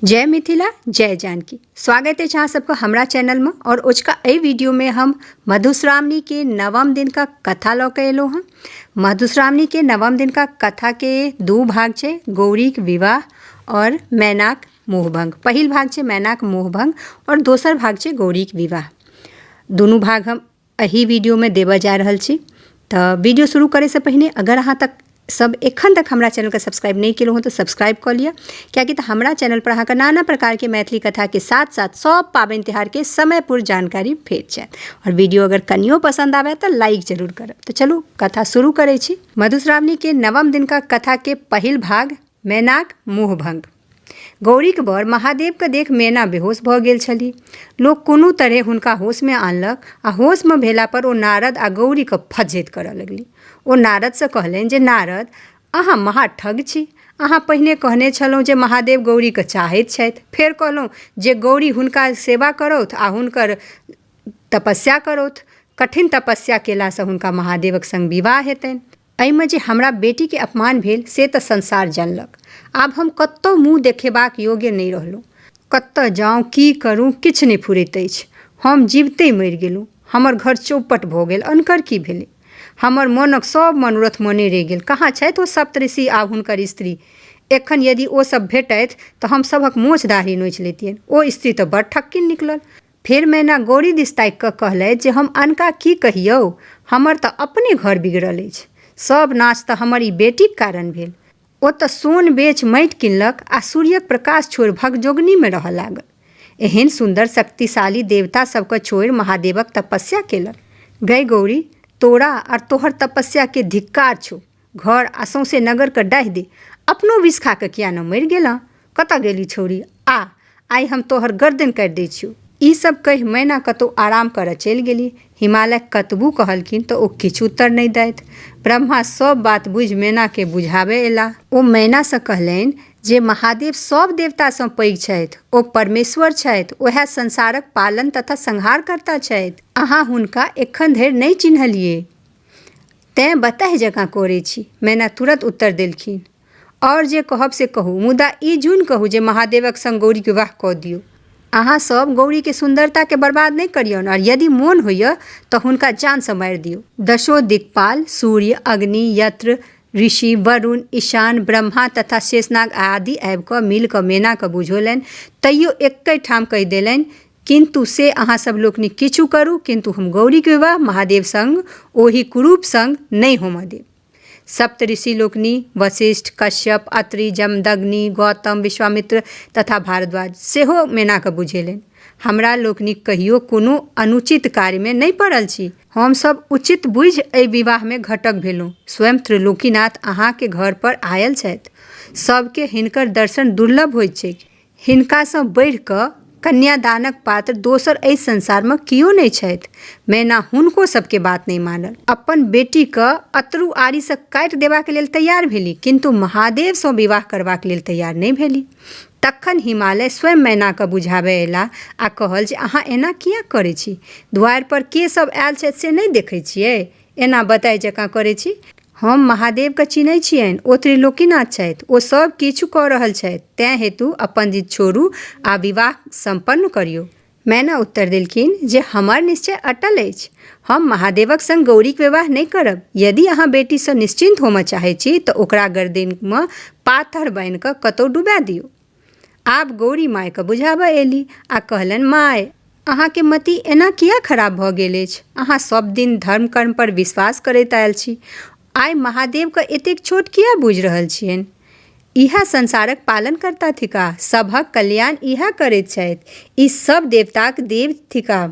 जय मिथिला जय जानकी स्वागत अछि अहाँ सबके हमरा चैनलमे आओर ओजका एहि वीडियोमे हम मधुश्रावणीके नवम दिनका कथा लऽ कऽ एलहुँ हँ मधुश्रावणीके नवम दिनका कथाके दू भाग छै गौरीक विवाह आओर मैनाक मोहभंग पहिल भाग छै मैनाक मोहभंग आओर दोसर भाग छै गौरीक विवाह दुनू भाग हम एहि वीडियोमे देबऽ जा रहल छी तऽ वीडियो शुरू करैसँ पहिने अगर अहाँ तक सब एखन तक हमरा चैनलके सब्सक्राइब नहि केलहुँ हँ तऽ सब्सक्राइब कऽ लिअ कियाकि तऽ हमरा चैनलपर अहाँके नाना प्रकारके मैथिली कथाके साथ साथ सब पाबनि तिहारके समयपुर जानकारी भेट जायत आओर वीडियो अगर कनियो पसन्द आबय तऽ लाइक जरूर करब तऽ चलू कथा शुरू करै छी मधुश्रावणीके नवम दिनका कथाके पहिल भाग मैनाक मुँहभंग गौरीक बर महादेवकेँ देख मेना बेहोश भऽ गेल छलि। लोक कोनो तरहें हुनका होशमे आनलक आ होशमे भेलापर ओ नारद आ गौरीकेँ फज्झति करऽ लगलि। ओ नारदसँ कहलनि जे नारद, अहाँ महा ठग छी। अहाँ पहिने कहने छलहुँ जे महादेव गौरीकेँ चाहैत छथि, फेर कहलहुँ जे गौरी हुनका सेवा करौथ आ हुनकर तपस्या करौथ। कठिन तपस्या केलासँ हुनका महादेवक संग विवाह हेतनि। एहिमे जे हमरा बेटीके अपमान भेल से तऽ संसार जनलक आब हम कतौ मुँह देखेबाक योग्य नहि रहलहुँ कतऽ जाउ की करू किछु नहि फुरैत अछि हम जीबते मरि गेलहुँ हमर घर चौपट भऽ गेल अनकर की भेलै हमर मोनक सब मनोरथ मने रहि गेल कहाँ छथि ओ सप्तऋषि आ हुनकर स्त्री एखन यदि ओ सब भेटथि तऽ हम सभक मोछ दाढ़ी नोचि लैतियनि ओ स्त्री तऽ बड़ ठक्किन निकलल फेर मैना गौरी दिस ताकि कऽ कहलथि जे हम अनका की कहियौ हमर तऽ अपने घर बिगड़ल अछि सभ नाच तऽ हमर ई बेटीक कारण भेल ओ तऽ सोन बेच माटि किनलक आ सूर्यक प्रकाश छोड़ि भगजोगनीमे रहऽ लागल एहन सुन्दर शक्तिशाली देवता सभके छोड़ि महादेवक तपस्या केलक गै गौरी तोरा आर तोहर तपस्या के धिक्कार छौ घर आ सौंसे नगर के डाहि दे अपनो विष खा के किया न मरि गेलँ? कतऽ गेली छौड़ी? आ, आइ हम तोहर गर्दनि काटि दै छियौ। ई सब कहि मैना कतौ आराम करऽ चलि गेलि। हिमालय कतबु कहलखिन तऽ ओ किछु उत्तर नहि दैथ। ब्रह्मा सब बात बुझि मैना कें बुझाबय एलाह। ओ मैना सँ कहलनि जे महादेव सब देवता सँ पैघ छथि। ओ परमेश्वर छथि। ओएह संसारक पालन तथा संहारकर्ता छथि। अहाँ हुनका एखन धरि नहि चिन्हलियैक। तैँ बताहि जकाँ करै छी। मैना तुरत उत्तर देलखिन। आओर जे कहब से कहू, मुदा ई जुन कहू जे महादेवक संग गौरीक विवाह कऽ दियौ। अहाँ सभ गौरीक सुन्दरताकेँ बर्बाद नहि करियौन आओर यदि मोन होइए तँ हुनका जानसँ मारि दियौ। दशो दिक्पाल, सूर्य, अग्नि, यत्र, ऋषि, वरुण, ईशान, ब्रह्मा तथा शेषनाग आदि आबि कऽ मिलि कऽ मैनाकेँ बुझौलनि तैयो एक्कहि ठाम कहि देलनि किन्तु से अहाँ सब लोकनि किछु करू किन्तु हम गौरीक विवाह महादेव संग ओहि कुरूप संग नहि होमऽ देब। सप्तऋषि लोकनि, वशिष्ठ, कश्यप, अत्रि, जमदग्नि, गौतम, विश्वामित्र तथा भारद्वाज सेहो मेनाकऽ बुझेलनि, हमरा लोकनि कहियो कोनो अनुचित कार्यमे नहि पड़ल छी। हम सब उचित बुझि एहि विवाहमे घटक भेलहुँ। स्वयं त्रिलोकीनाथ अहाँक घरपर आयल छथि। सबकेँ हिनकर दर्शन दुर्लभ होइत छैक। हिनकासँ बढ़ि कऽ कन्यादानक पात्र दोसर एहि संसारमे कियो नहि छथि। मैना हुनको सभके बात नहि मानल। अपन बेटीकेँ अतरु आड़ीसँ काटि देबाक लेल तैयार भेली किन्तु महादेवसँ विवाह करबाक लेल तैयार नहि भेली। तखन हिमालय स्वयं मैनाकेँ बुझाबए अयलाह आ कहल जे अहाँ एना किएक करै छी? द्वारिपर के सभ आयल छथि से नहि देखै छियै? एना बताइ जकाँ करै छी हम महादेवके चिन्है छियनि ओ त्रिलोकीनाथ छथि ओ सब किछु कऽ रहल छथि तैं हेतु अपन जिद छोड़ू आ विवाह सम्पन्न करियौ मैना उत्तर देलखिन जे हमर निश्चय अटल अछि हम महादेवक संग गौरीक विवाह नहि करब यदि अहाँ बेटीसँ निश्चिन्त होमऽ चाहै छी तऽ ओकरा गर्दनिमे पाथर बान्हि कऽ कतौ डुबा दियौ आब गौरी मायके बुझाबऽ एली आ कहलनि माय अहाँके मति एना किया खराब भऽ गेल अछि अहाँ सब दिन धर्म कर्म पर विश्वास करैत आयल छी आइ महादेवके एतेक छोट किया बुझि रहल छियनि इएह संसारक पालन करता थिका सभक कल्याण इएह करैत छथि ई सब देवताक देव थिका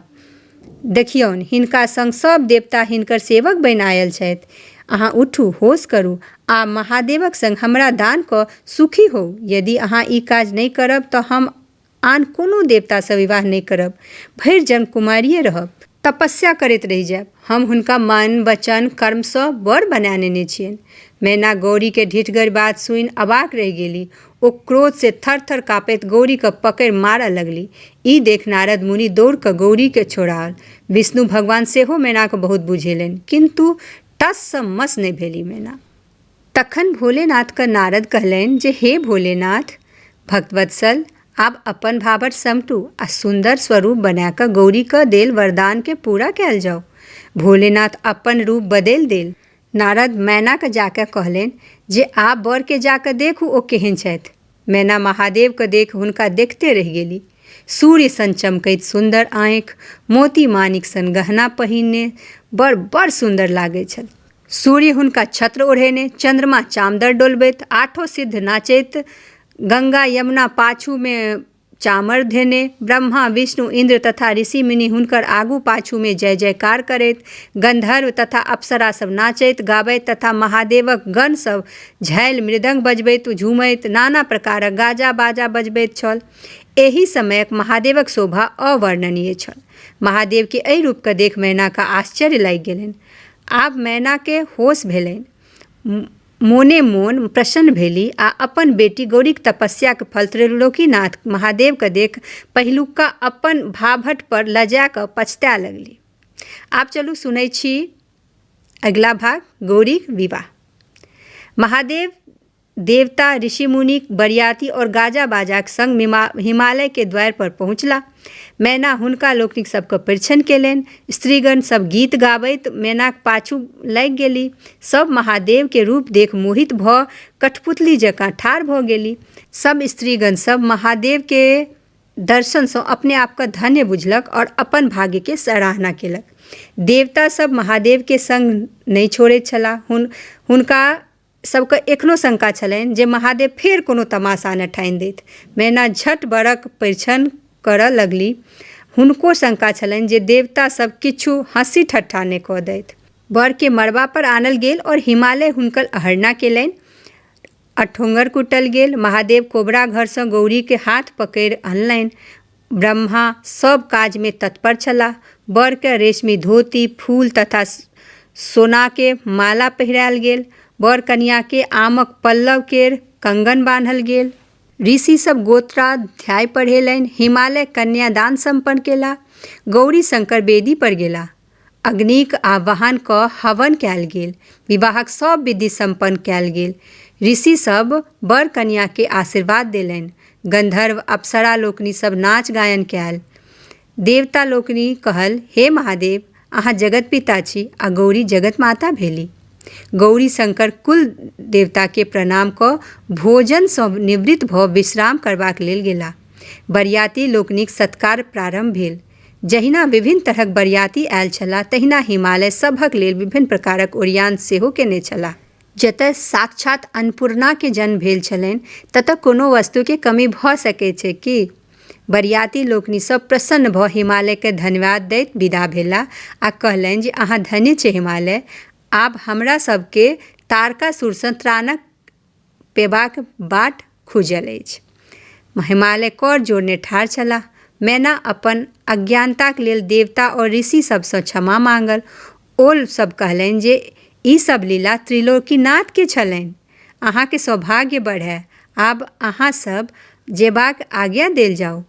देखियौन, हिनका संग सभ देवता हिनकर सेवक बनि आयल छथि। अहाँ उठू, होश करू आ महादेवक संग हमरा दान कऽ सुखी होउ। यदि अहाँ ई काज नहि करब तँ हम आन कोनो देवता सँ विवाह नहि करब। भरि जन्म कुमारिये रहब। तपस्या करैत रहि जायब। हम हुनका मन, वचन, कर्म सँ वर बना नेने छियनि। मैना गौरीक ढिठगर बात सुनि अवाक रहि गेली। ओ क्रोध से थर थर काँपैत गौरी के पकड़ि मारऽ लगली ई देख नारद मुनि दौड़ कऽ गौरी के छोड़ाओल विष्णु भगवान सेहो मैना के बहुत बुझेलनि किन्तु टस से मस नहि भेली मैना तखन भोलेनाथ के नारद कहलनि जे हे भोलेनाथ भक्तवत्सल आब अपन भावर समटू आ सुन्दर स्वरूप बना कऽ गौरी के देल वरदान के पूरा कयल जाओ भोलेनाथ अपन रूप बदलि देल नारद मैनाकेँ जा कऽ कहलनि जे आब बरकेँ जा कऽ देखू ओ केहन छथि मैना महादेवकेँ देख हुनका देखते रहि गेली सूर्य सन चमकैत सुन्दर आँखि मोती मानिक सन गहना पहिरने बड़ बड़ सुन्दर लागैत छल सूर्य हुनका छत्र ओढ़ेने चन्द्रमा चामदर डोलबैत आठो सिद्ध नाचैत गंगा यमुना पाछूमे चामर धेने ब्रह्मा विष्णु इन्द्र तथा ऋषि मुनि हुनकर आगू पाछूमे जय जयकार करैत गन्धर्व तथा अप्सरा सब नाचैत गाबैत तथा महादेवक गण सब झालि मृदंग बजबैत झूमैत नाना प्रकारक गाजा बाजा बजबैत छल एहि समयक महादेवक शोभा अवर्णनीय छल महादेवके एहि रूपके देख मैनाके आश्चर्य लागि गेलनि आब मैनाके होश भेलनि मोने मोन प्रसन्न भेली आ अपन बेटी गौरीक तपस्याक फल त्रैलोकीनाथ महादेवकेँ देख पहिलुका अपन भाभटपर लजा कऽ पछताए लगली। आब चलू सुनै छी अगिला भाग गौरीक विवाह। महादेव देवता, ऋषि-मुनिक बरियाती और गाजा-बाजाक संग हिमालयके द्वारपर पहुँचला। मैना हुनका लोकनिक सभके परिछन केलनि स्त्रीगण सभ गीत गाबैत मैनाक पाछू लागि गेली सभ महादेवके रूप देख मोहित भऽ कठपुतली जकाँ ठाढ़ भऽ गेली सभ स्त्रीगण सभ महादेवके दर्शनसँ अपने आपके धन्य बुझलक आओर अपन भाग्यके सराहना केलक देवता सभ महादेवके सङ्ग नहि छोड़ैत छलाह हुन हुनका सभके एखनो शंका छलनि जे महादेव फेर कोनो तमाशा ने ठानि देथि मैना झट बरक परिछन करऽ लगली हुनको शंका छलनि जे देवता सभ किछु हँसी ठट्ठा ने कऽ दैथ बरके मड़बा पर आनल गेल और हिमालय हुनकर अहरना केलनि अठोंगर कुटल गेल महादेव कोबरा घरसँ गौरीके हाथ पकड़ि अनलनि ब्रह्मा सभ काजमे तत्पर छलाह। वरकेँ रेशमी धोती, फूल तथा सोनाकेँ माला पहिराएल गेल। वर-कनियाकेँ आमक पल्लव केर कंगन बान्हल गेल। ऋषि सभ गोत्राध्याय पढ़ेलनि। हिमालय कन्यादान सम्पन्न केलाह। गौरीशंकर वेदी पर गेलाह। अग्निक आह्वान कऽ हवन कयल गेल। विवाहक सभ विधि सम्पन्न कयल गेल। ऋषि सभ वर-कनिया केँ आशीर्वाद देलनि। गन्धर्व, अप्सरा लोकनि सभ नाच-गायन कयल। देवता लोकनि कहल, हे महादेव, अहाँ जगत पिता छी आ गौरी जगत माता भेली। गौरी शंकर कुल देवता केँ प्रणाम कऽ भोजन सँ निवृत्त भऽ विश्राम करबाक लेल गेलाह। बरियाती लोकनिक सत्कार प्रारम्भ भेल। जहिना विभिन्न तरहक बरियाती आयल छलाह तहिना हिमालय सभक लेल विभिन्न प्रकारक ओरियान सेहो केने छलाह। जतय साक्षात अन्नपूर्णाकेँ जन्म भेल छलनि ततय कोनो वस्तुकेँ कमी भऽ सकैत छैक की? बरियाती लोकनि सभ प्रसन्न भऽ हिमालयकेँ धन्यवाद दैत विदा भेलाह आ कहलनि जे अहाँ धन्य छी हिमालय। आब हमरा सभकेँ तारकासुरसँ त्राणक पेबाक बाट खुजल अछि हिमालय कर जोड़ने ठाढ़ छलाह मैना अपन अज्ञानताक लेल देवता आओर ऋषि सभसँ क्षमा माँगल ओ सभ कहलनि जे ई सभ लीला त्रिलोकीनाथके छलनि अहाँके सौभाग्य बढ़ै आब अहाँ सभ जेबाक आज्ञा देल जाउ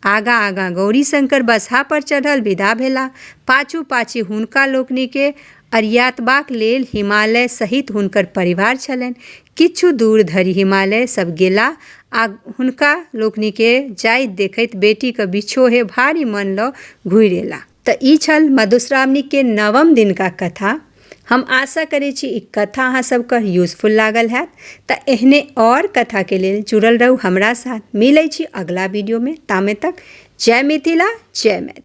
आगाँ आगाँ गौरीशंकर बसहा पर चढ़ल विदा भेलाह। पाछू पाछी हुनका लोकनि केँ अरियातबाक लेल हिमालय सहित हुनकर परिवार छलनि। किछु दूर धरि हिमालय सभ गेलाह आ हुनका लोकनि केँ जाइत देखैत बेटीक विछोहे भारी मन लऽ घुरि एलाह। तऽ ई छल मधुश्रावणीके नवम दिनका कथा हम आशा करै छी ई कथा अहाँ सबके यूजफुल लागल हैत तऽ एहने आओर कथाके लेल जुड़ल रहू हमरा साथ मिलै छी अगिला वीडियोमे तामे तक जय मिथिला जय मैथिली